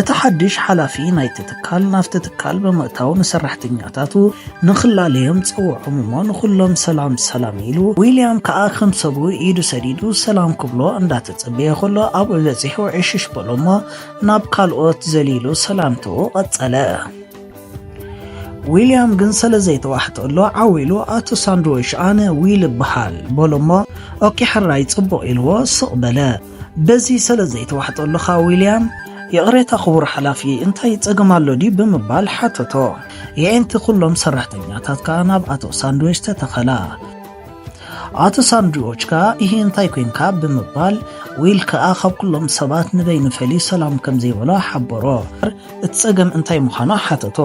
እቲ ሓድሽ ሓላፊ ናይቲ ትካል ናብቲ ትካል ብምእታው ንሰራሕተኛታቱ ንኽላለዮም ጸውዖም እሞ ንኹሎም ሰላም ሰላም ኢሉ። ዊልያም ከኣ ከም ሰቡ ኢዱ ሰዲዱ ሰላም ክብሎ እንዳተጸበየ ከሎ ኣብኡ በጺሑ ዕሽሽ በሎ እሞ ናብ ካልኦት ዘሊሉ ሰላምትኡ ቀጸለ። ዊልያም ግን ሰለ ዘይተዋሕጠሉ ዓው ኢሉ ኣቶ ሳንድዊሽ ኣነ ዊል እብሃል በሎ እሞ ኦኬ ሕራይ ጽቡቕ ኢልዎ ስቕ በለ። በዚ ሰለ ዘይተዋሕጠሉኻ ዊልያም ይቕሬታ ክቡር ሓላፊ እንታይ ጸገም ኣሎ ድዩ ብምባል ሓተቶ። የዒንቲ ኩሎም ሰራሕተኛታት ከኣ ናብ ኣቶ ሳንድዊች ተተኸላ። ኣቶ ሳንድዊች ከኣ ይህ እንታይ ኮንካ ብምባል ዊል ከኣ ካብ ኩሎም ሰባት ንበይኑ ፈልዩ ሰላም ከም ዘይበሎ ሓበሮ። እቲ ጸገም እንታይ ምዃኑ ሓተቶ።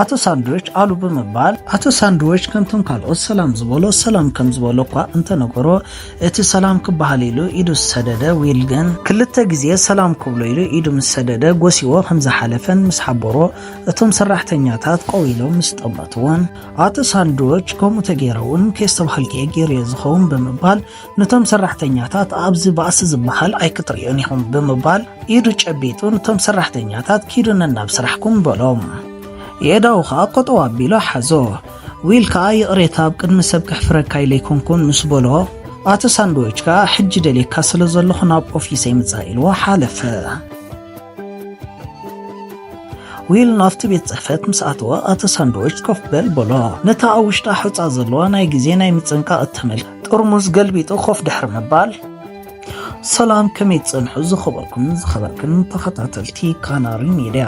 ኣቶ ሳንድዊች ኣሉ ብምባል ኣቶ ሳንድዊች ከምቶም ካልኦት ሰላም ዝበሎ ሰላም ከም ዝበሎ እኳ እንተነገሮ እቲ ሰላም ክበሃል ኢሉ ኢዱ ዝሰደደ ዊል ግን፣ ክልተ ግዜ ሰላም ክብሎ ኢሉ ኢዱ ምስ ሰደደ ጎስይዎ ከም ዝሓለፈን ምስ ሓበሮ እቶም ሰራሕተኛታት ቆው ኢሎም ምስ ጠመትዎን፣ ኣቶ ሳንድዎች ከምኡ ተገይረ'ውን ከየስተብሃልክ'የ ገይረዮ ዝኸውን ብምባል ንቶም ሰራሕተኛታት ኣብዚ ባእሲ ዝበሃል ኣይክትርእዩን ኢኹም ብምባል ኢዱ ጨቢጡ ንቶም ሰራሕተኛታት ኪዱ ነናብ ስራሕኩም በሎም። የእዳዉ ከኣ ቆጠው ኣቢሉ ሓዞ። ዊል ከኣ ይቕሬታ ኣብ ቅድሚ ሰብ ከሕፍረካ ኢለ ኣይኮንኩን ምስ በሎ ኣቲ ሳንድዊች ከኣ ሕጂ ደልየካ ስለ ዘለኹ ናብ ኦፊሰይ ምጻእ ኢልዎ ሓለፈ። ዊል ናብቲ ቤት ጽሕፈት ምስ ኣተወ ኣቲ ሳንድዊች ኮፍ በል በሎ። ነታ ኣብ ውሽጣ ሑጻ ዘለዋ ናይ ግዜ ናይ ምጽንቃቕ እተመልክ ጥርሙዝ ገልቢጡ ኮፍ ድሕሪ ምባል ሰላም ከመይ ትጸንሑ ዝኸበርኩም ዝኸበርክን ተኸታተልቲ ካናሪ ሚድያ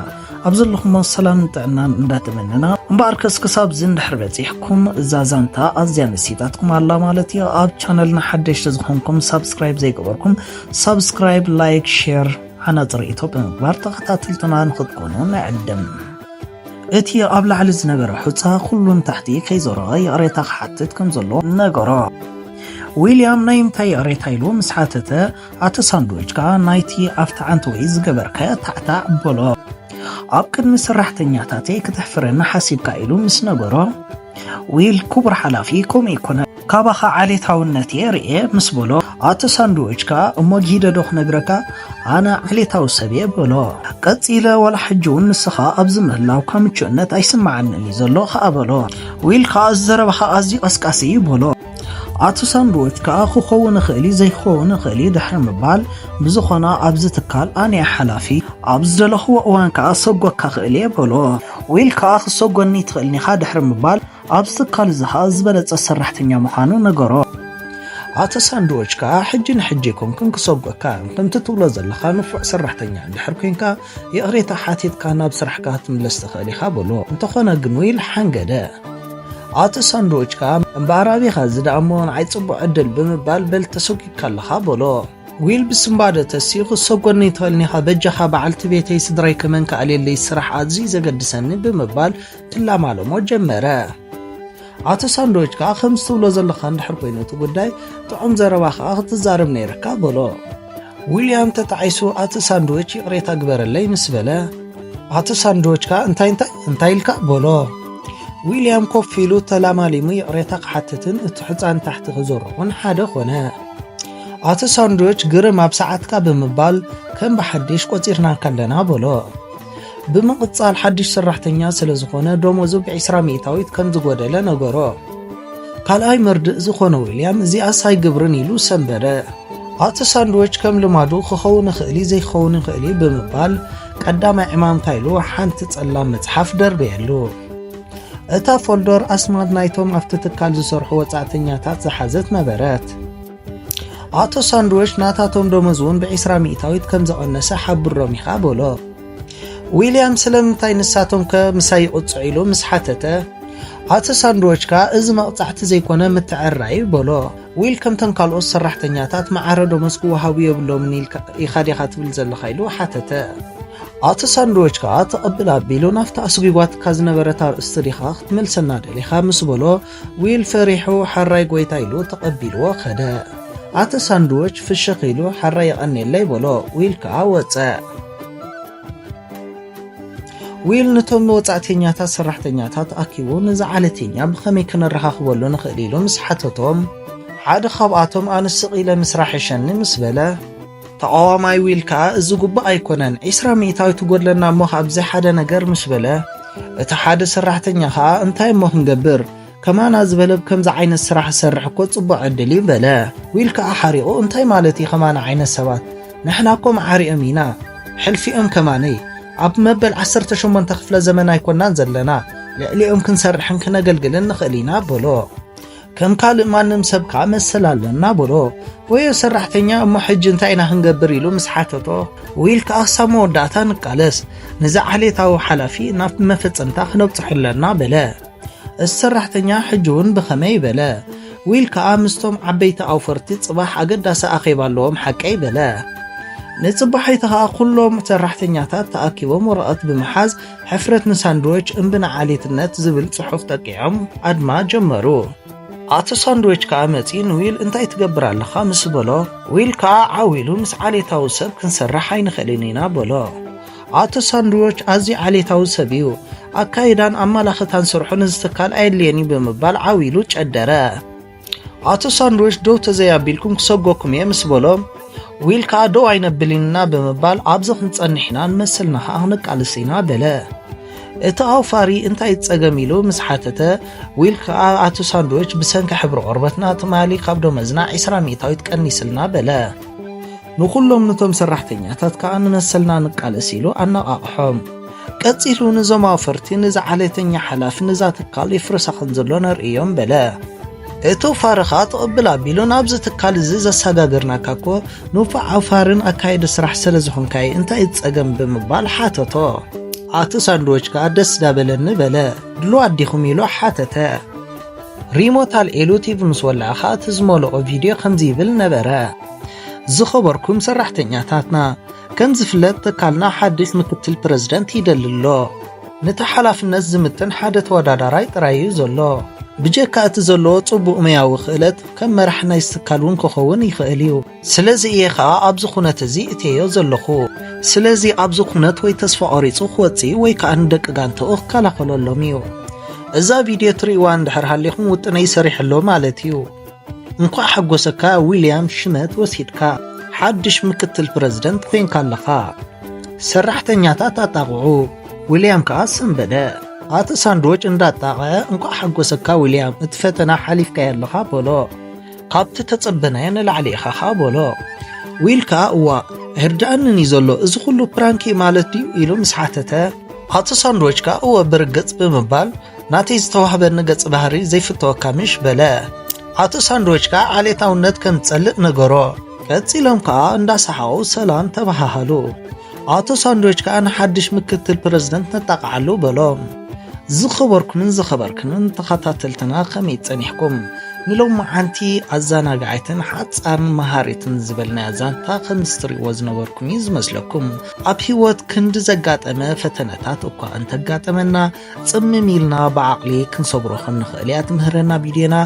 ኣብ ዘለኹሞ ሰላምን ጥዕናን እንዳተመነና እምበኣር ከስ ክሳብ ዝንድሕር በጺሕኩም እዛ ዛንታ ኣዝያ መሲጣትኩም ኣላ ማለት እዩ ኣብ ቻነልና ሓደሽቲ ዝኾንኩም ሳብስክራይብ ዘይገበርኩም ሳብስክራይብ ላይክ ሼር ሓናፅ ርእቶ ብምግባር ተኸታተልትና ንኽትኮኑ ንዕድም እቲ ኣብ ላዕሊ ዝነበረ ሑፃ ኩሉን ታሕቲ ከይዞረ ይቕሬታ ክሓትት ከም ዘሎ ነገሮ ዊልያም ናይ እንታይ ይቕሬታ ኢሉ ምስ ሓተተ፣ ኣቲ ሳንድዊች ከኣ ናይቲ ኣብቲ ዓንተወይ ዝገበርካዮ ታዕታዕ በሎ። ኣብ ቅድሚ ሰራሕተኛታተይ ክተሕፍረኒ ሓሲብካ ኢሉ ምስ ነገሮ፣ ዊል ክቡር ሓላፊ ከምኡ ኣይኮነን፣ ካባኻ ዓሌታውነት እየ ርእየ ምስ በሎ፣ ኣቲ ሳንድዊች ከኣ እሞ ጊደ ዶ ክነግረካ ኣነ ዓሌታዊ ሰብ እየ በሎ። ቀጺለ ዋላ ሕጂ እውን ንስኻ ኣብዚ ምህላውካ ምቹእነት ኣይስምዓንን እዩ ዘሎ ከኣ በሎ። ዊል ከኣ እዚ ዘረባኻ ኣዝዩ ቀስቃሲ እዩ በሎ። ኣቶ ሳንድዊች ከኣ ክኸውን ይኽእል እዩ ዘይክኸውን ይኽእል እዩ ድሕሪ ምባል ብዝኾነ ኣብዚ ትካል ኣነ እየ ሓላፊ ኣብ ዝደለኽዎ እዋን ከኣ ሰጎካ ክእል እየ በሎ። ዊል ከኣ ክሰጎኒ ትኽእልኒ ኢኻ ድሕሪ ምባል ኣብዚ ትካል እዚ ከኣ ዝበለጸ ሰራሕተኛ ምዃኑ ነገሮ። ኣቶ ሳንድዊች ከኣ ሕጂ ንሕጂ ኣይኮንኩን ክሰጎካ ከምቲ ትብሎ ዘለኻ ንፉዕ ሰራሕተኛ እንድሕር ኮንካ ይቕሬታ ሓቲትካ ናብ ስራሕካ ክትምለስ ትኽእል ኢኻ በሎ። እንተኾነ ግን ኢሉ ሓንገደ። ኣቶ ሳንድዊች ከኣ እምበኣር ኣቢኻ እዚ ደኣ እሞ ንዓይ ጽቡቕ ዕድል ብምባል በል ተሰጒግካ ኣለኻ በሎ። ዊል ብስንባደ ተሲኡ ክትሰጎኒ ትኽእል ኒኻ በጃኻ በዓልቲ ቤተይ ስድራይ ከመን ክኣልየለይ ስራሕ ኣዝዩ ዘገድሰኒ ብምባል ክላማለሞ ጀመረ። ኣቶ ሳንዶች ከዓ ከምዚ ትብሎ ዘለካ እንድሕር ኮይኑ እቲ ጉዳይ ጥዑም ዘረባ ከዓ ክትዛረብ ነይርካ በሎ። ዊልያም ተጣዒሱ ኣቶ ሳንዶች ይቕሬታ ግበረለይ ምስ በለ ኣቶ ሳንዶች ከዓ እንታይ እንታይ እንታይ ኢልካ በሎ። ዊልያም ኮፍ ኢሉ ተላማሊሙ ይቕሬታ ክሓትትን እቲ ሕፃን ታሕቲ ክዘርኹን ሓደ ኮነ። ኣቶ ሳንዶች ግርም ኣብ ሰዓትካ ብምባል ከም ብሓድሽ ቆፂርናካ ኣለና በሎ። ብምቕጻል ሓድሽ ሰራሕተኛ ስለ ዝኾነ ደሞዙ ብዒስራ ሚእታዊት ከም ዝጎደለ ነገሮ። ካልኣይ መርድእ ዝኾነ ዊልያም እዚኣስ ኣይግብርን ኢሉ ሰንበደ። ኣቲ ሳንድዊች ከም ልማዱ ክኸውን ይኽእል እዩ ዘይክኸውን ይኽእል እዩ ብምባል ቀዳማይ ዕማምታ ኢሉ ሓንቲ ጸላም መጽሓፍ ደርበየሉ እታ ፎልዶር ኣስማት ናይቶም ኣብቲ ትካል ዝሰርሑ ወጻእተኛታት ዝሓዘት ነበረት ኣቶ ሳንድዊች ናታቶም ደሞዝ እውን ብዒስራ ሚእታዊት ከም ዘቐነሰ ሓብሮም ኢኻ በሎ። ዊልያም ስለምንታይ ንሳቶም ከ ምሳይ ይቕጽዑ ኢሉ ምስ ሓተተ ኣቶ ሳንድዎች ከኣ እዚ መቕጻዕቲ ዘይኮነ ምትዕርራይ እዩ በሎ ዊል ከምተን ካልኦት ሰራሕተኛታት መዓረ ደሞዝ ክወሃቡ የብሎምን ኢኻ ዲኻ ትብል ዘለኻ ኢሉ ሓተተ ኣቶ ሳንድዎች ከኣ ተቐብል ኣቢሉ ናብቲ ኣስጒጓትካ ዝነበረት ኣርእስቲ ዲኻ ክትመልሰና ደሊኻ ምስ በሎ ዊል ፈሪሑ ሐራይ ጎይታ ኢሉ ተቐቢልዎ ከደ። ኣቲ ሳንድዎች ፍሽኽ ኢሉ ሐራይ የቐኔለይ በሎ። ዊል ከኣ ወጸ። ዊል ንቶም ወጻእተኛታት ሰራሕተኛታት ኣኪቡ ነዚ ዓለቴኛ ብኸመይ ከነረኻኽበሉ ንኽእል ኢሉ ምስ ሓተቶም ሓደ ካብኣቶም ኣነ ስቕ ኢለ ምስራሕ ይሸኒ ምስ በለ ተቓዋማይ ዊል ከኣ እዚ ጉቡእ ኣይኮነን ዒስራ ሚእታዊት ትጎድለና እሞ ካብዚ ሓደ ነገር ምሽ በለ እቲ ሓደ ሰራሕተኛ ከኣ እንታይ እሞ ክንገብር ከማና ዝበለ ብከምዚ ዓይነት ስራሕ ዝሰርሕ እኮ ጽቡቕ ዕድል እዩ በለ ዊል ከኣ ሓሪቑ እንታይ ማለት እዩ ከማና ዓይነት ሰባት ንሕና እኮ መዓሪኦም ኢና ሕልፊኦም ከማነይ ኣብ መበል 18 ክፍለ ዘመን ኣይኮናን ዘለና ልዕሊኦም ክንሰርሕን ክነገልግልን ንኽእል ኢና በሎ ከም ካልእ ማንም ሰብ ከኣ መሰል ኣለና በሎ። ወዮ ሰራሕተኛ እሞ ሕጂ እንታይ ኢና ክንገብር ኢሉ ምስ ሓተቶ ዊል ከኣ ክሳብ መወዳእታ ንቃለስ፣ ነዚ ዓሌታዊ ሓላፊ ናብ መፈጸምታ ክነብጽሖ ኣለና በለ። እቲ ሰራሕተኛ ሕጂ እውን ብኸመይ በለ። ዊል ከኣ ምስቶም ዓበይቲ ኣውፈርቲ ጽባሕ ኣገዳሲ ኣኼባ ኣለዎም ሓቀይ በለ። ንጽባሒቲ ከኣ ኩሎም ሰራሕተኛታት ተኣኪቦም ወረቐት ብምሓዝ ሕፍረት ንሳንድዊች እምቢ ንዓሌትነት ዝብል ጽሑፍ ጠቂዖም ኣድማ ጀመሩ። ኣቶ ሳንድዊች ከኣ መጺ ንዊል እንታይ ትገብር ኣለኻ ምስ በሎ፣ ዊል ከኣ ዓው ኢሉ ምስ ዓሌታዊ ሰብ ክንሰርሕ ኣይንኽእልን ኢና በሎ። ኣቶ ሳንድዊች ኣዝዩ ዓሌታዊ ሰብ እዩ፣ ኣካይዳን ኣመላኽታን ስርሑ ነዚ ትካል ኣየድልዮን እዩ ብምባል ዓው ኢሉ ጨደረ። ኣቶ ሳንድዊች ደው ተዘይኣቢልኩም ክሰጎኩም እየ ምስ በሎ ዊል ከዓ ደው ኣይነብልንና ብምባል ኣብዚ ክንጸንሕ ኢና ንመሰልና ከዓ ክንቃልስ ኢና በለ እቲ ኣውፋሪ እንታይ ጸገም ኢሉ ምስ ሓተተ ዊል ከዓ ኣቶ ሳንድዊች ብሰንኪ ሕብሪ ቆርበትና ትማሊ ካብ ደመዝና 20 ሚእታዊት ቀኒስልና በለ ንኹሎም ንቶም ሰራሕተኛታት ከኣ ንመሰልና ንቃለስ ኢሉ ኣነቓቕሖም። ቀጺሉ ንዞም ኣውፈርቲ ንዚ ዓሌተኛ ሓላፊ ንዛ ትካል ይፍርሳ ከም ዘሎ ነርእዮም በለ። እቶ ፋርኻ ትቕብል ኣቢሉ ናብዚ ትካል እዚ ዘሰጋገርናካ እኮ ንፉዕ ኣውፋርን ኣካየዲ ስራሕ ስለ ዝኾንካ እዩ እንታይ እዩ ጸገም ብምባል ሓተቶ። ኣቶ ሳንድዎች ከኣ ደስ ዳበለኒ በለ። ድሉዋት ዲኹም ኢሉ ሓተተ። ሪሞት ኣልዒሉ ቲቪ ምስ ወልዐ ከኣ እቲ ዝመልኦ ቪድዮ ከምዚ ይብል ነበረ። ዝኸበርኩም ሰራሕተኛታትና ከም ዝፍለጥ ትካልና ሓድሽ ምክትል ፕረዚደንት ይደሊ ኣሎ ነቲ ሓላፍነት ዝምጥን ሓደ ተወዳዳራይ ጥራይ እዩ ዘሎ ብጀካ እቲ ዘለዎ ጽቡቕ መያዊ ክእለት ከም መራሕ ናይ ዝትካል እውን ክኸውን ይኽእል እዩ ስለዚ እየ ኸኣ ኣብዚ ኩነት እዚ እትዮ ዘለኹ ስለዚ ኣብዚ ኩነት ወይ ተስፋ ቖሪጹ ክወጽእ ወይ ከኣ ንደቂ ጋንተኡ ክከላኸለሎም እዩ እዛ ቪድዮ ትርእዋ እንድሕር ሃሊኹም ውጥነይ ሰሪሐሎ ማለት እዩ እንኳዕ ሓጎሰካ ዊልያም ሽመት ወሲድካ ሓድሽ ምክትል ፕረዚደንት ኮይንካ ኣለኻ ሰራሕተኛታት ኣጣቕዑ ዊልያም ከኣ ሰንበደ ኣቲ ሳንድዎች እንዳጣቐዐ እንኳዕ ሓጎሰካ ዊልያም እቲ ፈተና ሓሊፍካዮ ኣለኻ በሎ ካብቲ ተጸበናዮ ንላዕሊ ኢኻ ኸኣ በሎ ዊል ከኣ እዋ ኣይርድኣንን እዩ ዘሎ እዚ ኩሉ ፕራንክ እዩ ማለት ድዩ ኢሉ ምስ ሓተተ ኣቶ ሳንድዎች ከኣ እወ ብርግጽ ብምባል ናተይ ዝተዋህበኒ ገጽ ባህሪ ዘይፍተወካ ምሽ በለ። ኣቶ ሳንድዊች ከኣ ዓሌታውነት ከም ዝጸልእ ነገሮ። ቀጺሎም ከኣ እንዳሰሓቑ ሰላም ተበሃሃሉ። ኣቶ ሳንድዊች ከኣ ንሓድሽ ምክትል ፕረዚደንት ነጣቕዓሉ በሎም። ዝኸበርኩምን ዝኸበርክንን ተኸታተልትና ከመይ ጸኒሕኩም? ንሎማዓንቲ ኣዘናጋዒትን ሓጻርን መሃሪትን ዝበልናያ ዛንታ ከምዚ ትርእይዎ ዝነበርኩም እዩ ዝመስለኩም። ኣብ ህይወት ክንዲ ዘጋጠመ ፈተነታት እኳ እንተጋጠመና ጽምም ኢልና ብዓቕሊ ክንሰግሮ ከም ንኽእል እያ ትምህረና ቪድዮና።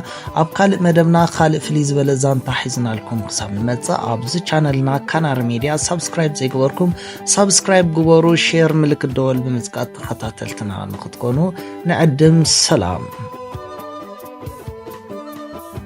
ኣብ ካልእ መደብና ካልእ ፍልይ ዝበለ ዛንታ ሒዝናልኩም ክሳብ ንመጽእ ኣብዚ ቻነልና ካናሪ ሜድያ ሳብስክራይብ ዘይገበርኩም ሳብስክራይብ ግበሩ፣ ሼር ምልክት ደወል ብምጽቃት ተኸታተልትና ንኽትኮኑ ንዕድም። ሰላም